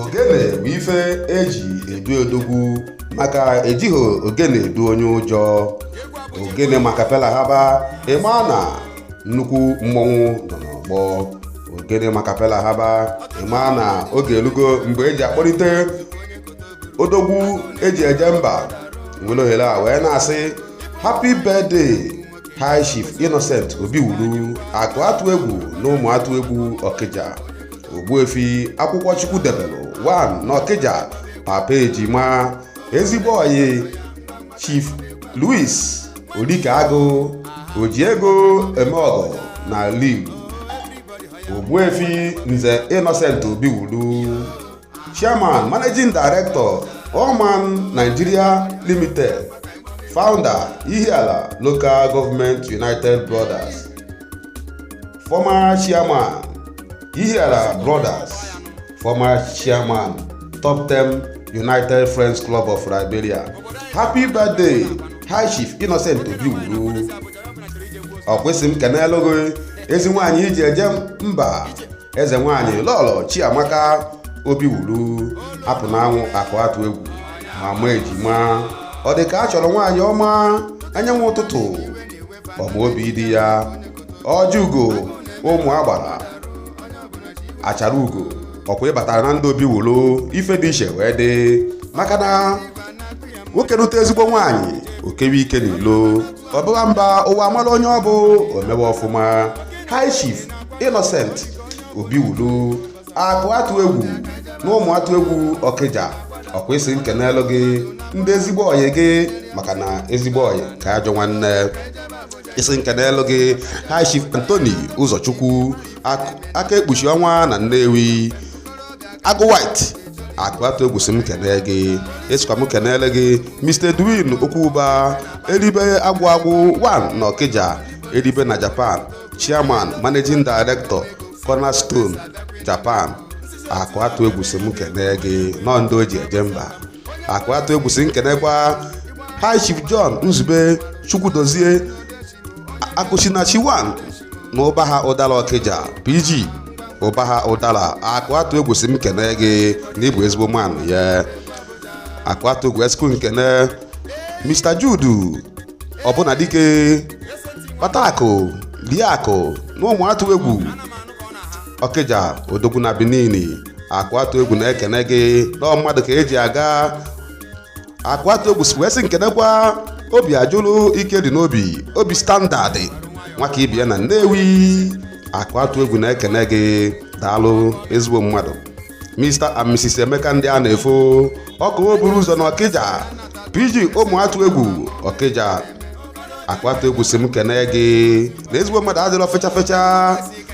ogene bụ ife eji edu odogwu maka ejighị ogene edu onye ụjọ ogene maka pela haba ịma na nnukwu mmọnwụ nọ n'ọgbọ ogene maka pela haba ịma na oge elugo mgbe eji akpọlite odogwu eji eje mba nwere ohere a wee na-asị happy birthday High Chief Innocent Obiwuru akụ atụ egwu na Ụmụatụegwu Ọkịja Ogbuefi akwụkwọ Chukwu debelụ 1 n'Ọkịja papa ejima ezigbo ọyị Chief Louis Olike Agụ oji ego eme ọgọ na Igbo Ogbuefi Nze Innocent Obiwuru chairman managing director Oman Nigeria Limited founder Ihiala Local Government United Brothers former chairman Ihiala Brothers former chairman Top 10 United Friends Club of Liberia happy birthday high chief Innocent Obiwuru ọ kwesị m kenelu gị ezi nwaanyị iji eje mba eze nwaanyị lọlọ chiamaka obiwuru apụ n'anwụ akụ atụ egwu mama ejima ọ dị ka a chọrọ nwaanyị ọma anyanwụ ụtụtụ ọma obi di ya ọjị ugo ụmụ agbara achara ugo ọkwa ị batara na ndị obiwuru ife dị iche wee dị maka na nwoke nụta ezigbo nwaanyị o kewe ike n'ilo ọ baba mba ụwa amara onye ọ bụ o mewe ọfụma high chief innocent obiwulu akụ atụ egwu na ụmụatụegwu ọkịja ọkwa ị sịrị m kenelu gị ndị ezigbo ọyị gị maka na ezigbo ọyị ka ajọ nwanne ị sịrị m kenelu gị high chief anthony ụzọchukwu aka ekpuchi ọnwa na nnewi agụ white akụ atụ egwu sị m kene gị esikwa m kenele gị mr edwin okwuba eribe agwụ agwụ 1 na ọkịja eribe na japan chairman managing director cornerstone japan akụ atụ egwu sị m kene gị na ọ ndị o ji eje mba akụ atụ egwu sị m kenekwa high chief john nzube chukwudozie akụsinachi 1 na ụbahụdara ọkịja pg ụbahụdara akụ atụ egwu sị m kene gị na ị bụ ezigbo mmanụ ya akụ atụ egwu esikwu m kene mr jude obunadike kpata akụ lie akụ na ụmụatụegwu ọkịja odogwu na benin akụ atụ egwu na-ekene gị na mmadụ ka eji aga akụ atụ egwu wee sị m kenekwa obiajụrụ ike dị n'obi obi standard nwaka ibie na nnewi akụ atụ egwu na-ekene gị daalụ ezigbo mmadụ mr and mrs emeka ndịanaefo ọkụ oburu ụzọ na ọkịja pg ụmụatụegwu ọkịja akụ atụ egwu sị m kene gị na ezigbo mmadụ adịrọ fecha fecha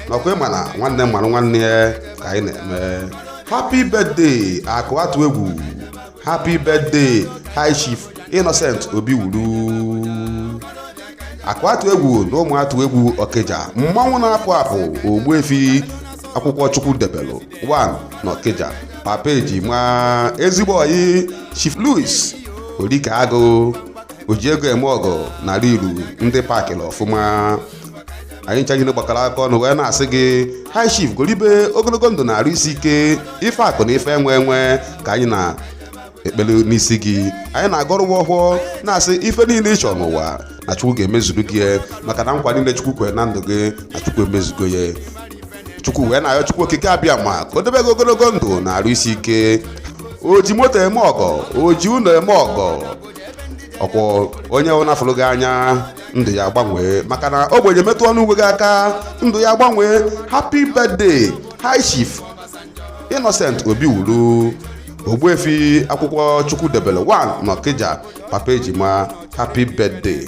n'ọkwa ị ma na nwanne marụ nwanne ya ka anyị na-eme happy birthday akụ atụ egwu happy birthday high chief innocent obiwuru akụ atụ egwu na ụmụ atụ egwu ọkịja mmanwụ na-apụ apụ ogbuefi akwụkwọ chukwu debelụ 1 na ọkịja papa ejima ezigbo ọyị chief louis ori ka agụ oji ego eme ọgọ na riru ndị pakịrị ọfụma anyị ncha niile gbakọrọ aka ọnụ wee na-asị gị high chief golibe ogologo ndụ na arụ isi ike ife akụ na ife enwe enwe ka anyị na-ekpere n'isi gị anyị na-agọrọ gị ọfọ na-asị ife niile ị chọrọ n'ụwa na chukwu ga-emezuru gị ya maka na nkwa niile chukwu kwere na ndụ gị na chukwu emezugo ya chukwu wee na-ayọ chukwu okike abịama ka o debe gị ogologo ndụ na arụ isi ike o ji moto eme ọgọ o ji ụlọ eme ọgọ ọ kwa onye ọbụna fụrụ gị anya ndụ ya agbanwee maka na ogbenye metụ ọnụ uwe gị aka ndụ ya agbanwee happy birthday high chief innocent obiwuru ogbuefi akwụkwọ chukwu debere 1 n'ọkịja papa ejima happy birthday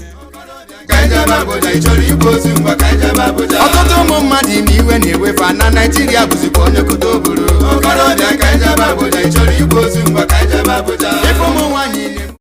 ọtụtụ ụmụ mmadụ na iwe na-ewe fa na naijiria bụzikwa onye kote o buru okorobịa ka i jebe abuja ị chọrọ igbu ozu ngwa ka i jebe abuja ife ụmụ nwaanyị na